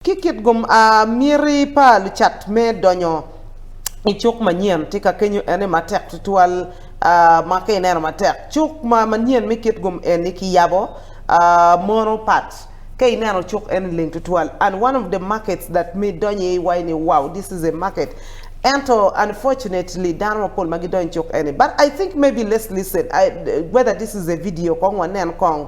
Ki kit gum a miti pa lucat me donyo i cuk manyen tika kenyo ene matek tutwal ma ka ineno matek. Cuk ma manyen me kit gum eni ki yabo mono pat ka ineno cuk eni leng tutwal and one of the markets that mi donyo i iwaci ni wow this is a market ento unfortunately dano mapol ma gidonyo i cuk eni but I think maybe let's listen whether this is a video kong wanen kong.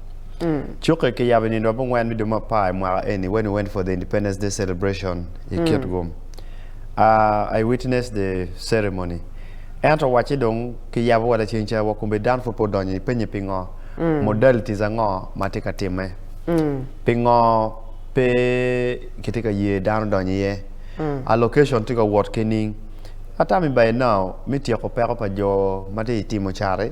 Cukke kiyabo i nino ma bungwen me dwe me apar i mwaka eni, When We Went for the Independence Day Celebration, i Kitgum. A I witnessed the ceremony. Ento wacce dong kiyabo wada cing ca, wa kome dano pud pe odonyo i penye pingo, modalities ango ma tye ka timme? Pingo pe kitye ka ye dano donyo iye? A location tye ka wot kening? A time by now me tyeko peko pa jo ma tye i timo cati?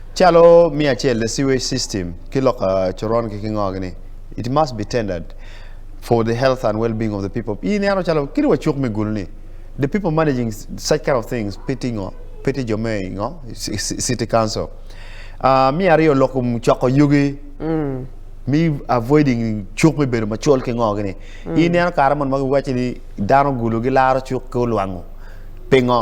Calo me acel the sewage system ki lok coron ki kingo gini it must be tendered for the health and well being of the people i neno calo kit wa cuk me gulu ni the people managing such kind of things pe ti ngo pe ti jo me i ngo i city council aa me ariyo lok kom coko yugi me avoiding cuk me bedo macol ki ngo gini i neno kare moni ma gi waci ni dano gulu gi laro cuk ki olwango pingo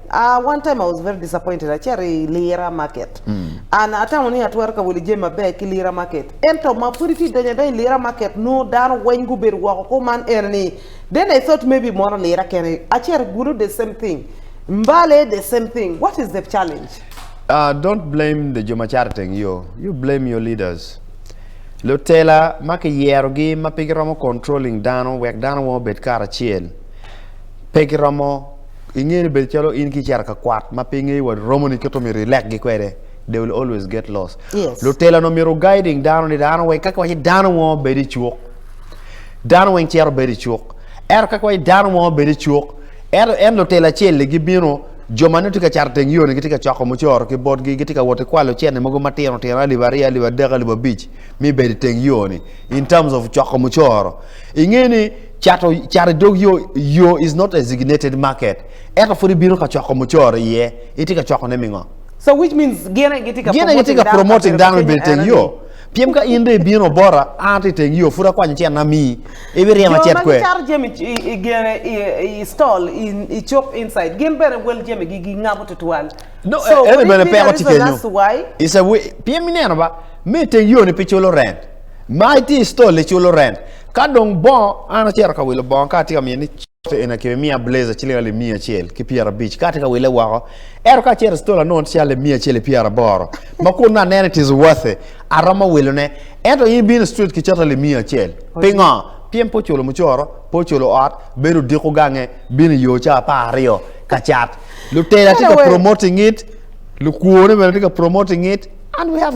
Uh, one time I was very disappointed. Acito i Lira Market. And atamo ni atwero ka wilo jami maber ki Lira Market. Ento ma pud itye donyo adony i Lira Market, nongo dano weng gubedo woko kuman ene ni then I thought maybe mono Lira kene. Acito i Gulu the same thing. Mbale the same thing. What is the challenge? Uh, don't blame the jo ma cato iteng yo. You blame your leaders. Lutela ma kiyerogi ma pe giromo controlling dano wek dano weng obed karacel, pe giromo I nge ni bedo calo in ki cito ka kwat ma pe ingeyo wa romoni kit omyero ilek gi kwede they will always get lost Yes. lutela no myero guiding dano ni dano weng kaki waci dano mo bedo icuk dano weng cito bedo icuk ento kaki waci dano mo bedo icuk ento en lutela acel ni gi bino jo ma nongo tye ka cato teng yo ni gitye ka coko mucoro ki bot gi gitye ka woti kwalo cene mogo ma tino tino alip aryo alip adek alip abic mi bedo iteng yo ni in terms of coko mucoro inge ni Cato i dog yo, yo is not a designated market, ento pud ibino ka coko mucoro iye, itye ka cokone me ngo? So which means gin aye gitye ka Gin aye gitye ka promoting dano i bedo iteng yo. Pien ka in dong ibino bota, an ato iteng yo, pud akwanyo cen amii, ibiryema Jo cet ma kwe. gicato jami i- i- i gene i i stall i i cuk inside gin bene wel jamigi gingabo tutwal. No, So e- ene could it bene be the peko tye reason kenyo. as why? It's a way, pien ineno ba, me iteng yo-ni pe culo rent, ma itye i stall iculo rent. Ka dong bongo, an acito ka wilo bongo ka atye ka miyo ni cote eni akebe miya bleja ciling alip miya acel ki pyera abic ka atye ka wile woko. Ento ka acito i stola anongo tye alip miya acel i pyera aboro ma kun me aneno it is worth it aromo wilo ne. Ento in ibino street ki cote alip miya acel. Pingo? Pien pe oculo mucoro, pe oculo ot, bene odiko gange, bino i yo ca apar aryo ka cat. Lutela tye ka promoting it, lukwone bene tye ka promoting it and we have